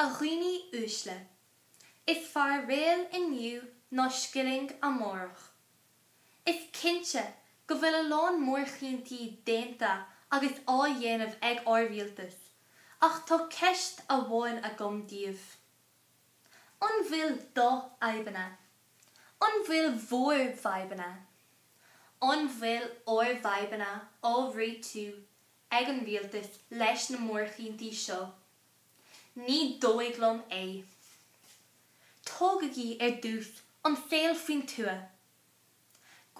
A dhaoine uaisle. Is fearr réal inniu ná scilling amárach. Is cinnte go bhfuil a lán mórchinntí déanta agus á dhéanamh ag ár rialtas ach tá ceist amháin agam daoibh. An bhfuil do fhadhbanna? An bhfuil bhur bhfadhbanna? An bhfuil ár bhfadhbanna á réitiú ag an Rialtas leis na mórchinntí seo? Ní dóigh liom é. Tógaigí ar dtús an saol faoin tuath.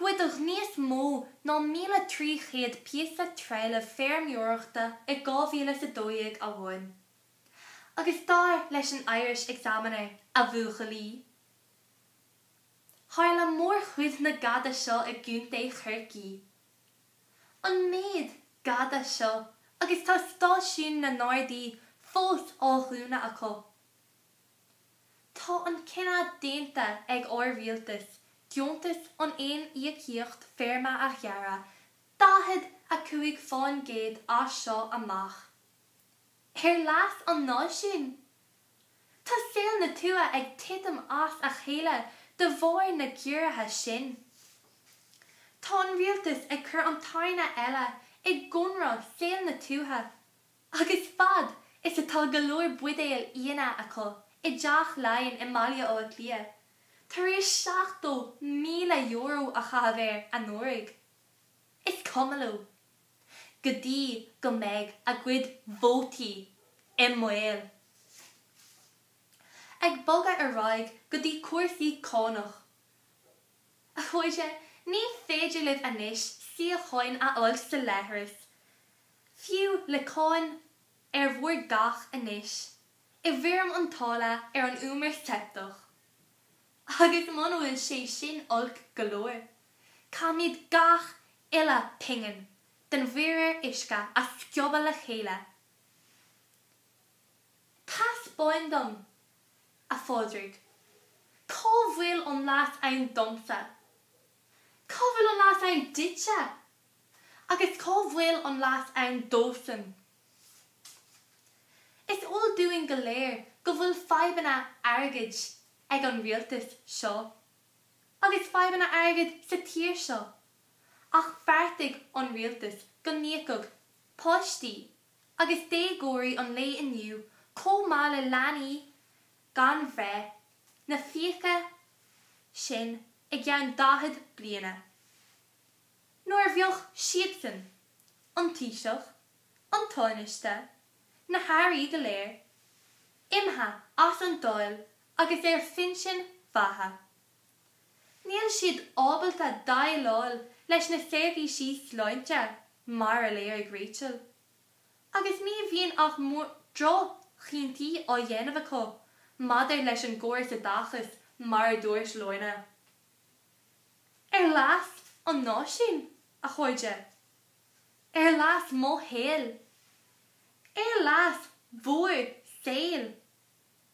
Goideadh níos mó ná 1,300 píosa trealaimh feirmeoireachta i 2012 amháin. Agus dar leis an Irish Examiner, a bhuachaillí, tharla mórchuid na gada seo i gContae Chorcaí. an méid gada seo agus tá stáisiúin na nGardaí fós á dhúnadh acu. Tá an cinneadh déanta ag ár rialtas deontas an aon íocaíocht feirme a ghearradh 45 fán gcéad as seo amach. Ar leas an náisiúin Tá saol na tuaithe ag titim as a chéile de bharr na gciorruithe sin. Tá an rialtas ag cur an tairne eile i gcónra saol na tuaithe agus fad is atá go leor buidéal fhíona acu i dTeach Laighean i mBaile Átha Cliath, tar éis €70,000 a chaitheamh air anuraidh, is cuma leo. go dtí go mbeidh a gcuid vótaí i mbaol. Ag bogadh ar aghaidh go dtí cúrsaí cánach. A chairde, ní féidir libh anois síocháin a fháil sa leithreas, fiú le cáin ar bhur dteach anois, i bhfoirm an táille ar an umar seipteach. Agus muna bhfuil sé sin olc go leor, caithfimid gach uile pingin den mhuirear uisce a sciobadh le chéile. Taispeáin dom, a Phádraig, cá bhfuil an leas ann domsa, cá bhfuil an leas ann duitse agus cá bhfuil an leas ann dósan. Is eol dúinn go léir go bhfuil fadhbanna airgid ag an rialtas seo. agus fadhbanna airgid sa tír seo, ach bheartaigh an rialtas go n-íocfadh páistí agus déagóirí an lae inniu chomh maith le leanaí gan bhreith, na fiacha sin i gceann 40 bliana, nuair a bheadh siadsan, an Taoiseach, an Tánaiste, na hAirí go léir, imithe as an Dáil agus ar phinsean, a mbeatha. Níl siad ábalta déileáil leis na seirbhísí sláinte, mar a léirigh Rachel, agus ní bhíonn ach droch-chinntí á dhéanamh acu maidir leis an gcóras oideachais mar a dúirt Lorna. Ar leas an náisiúin, a chairde. Ar leas mo shaoil. Ar leas bhur saoil.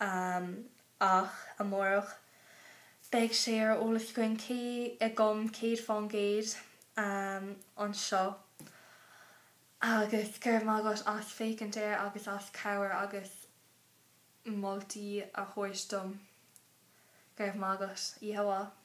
amach amárach. Beidh sé ar eolas againn cé acu céad fán gcéad anseo agus go raibh maith agat as féachaint air agus as cabhair agus moltaí a thabhairt dom. Go raibh maith agat. Yehovah.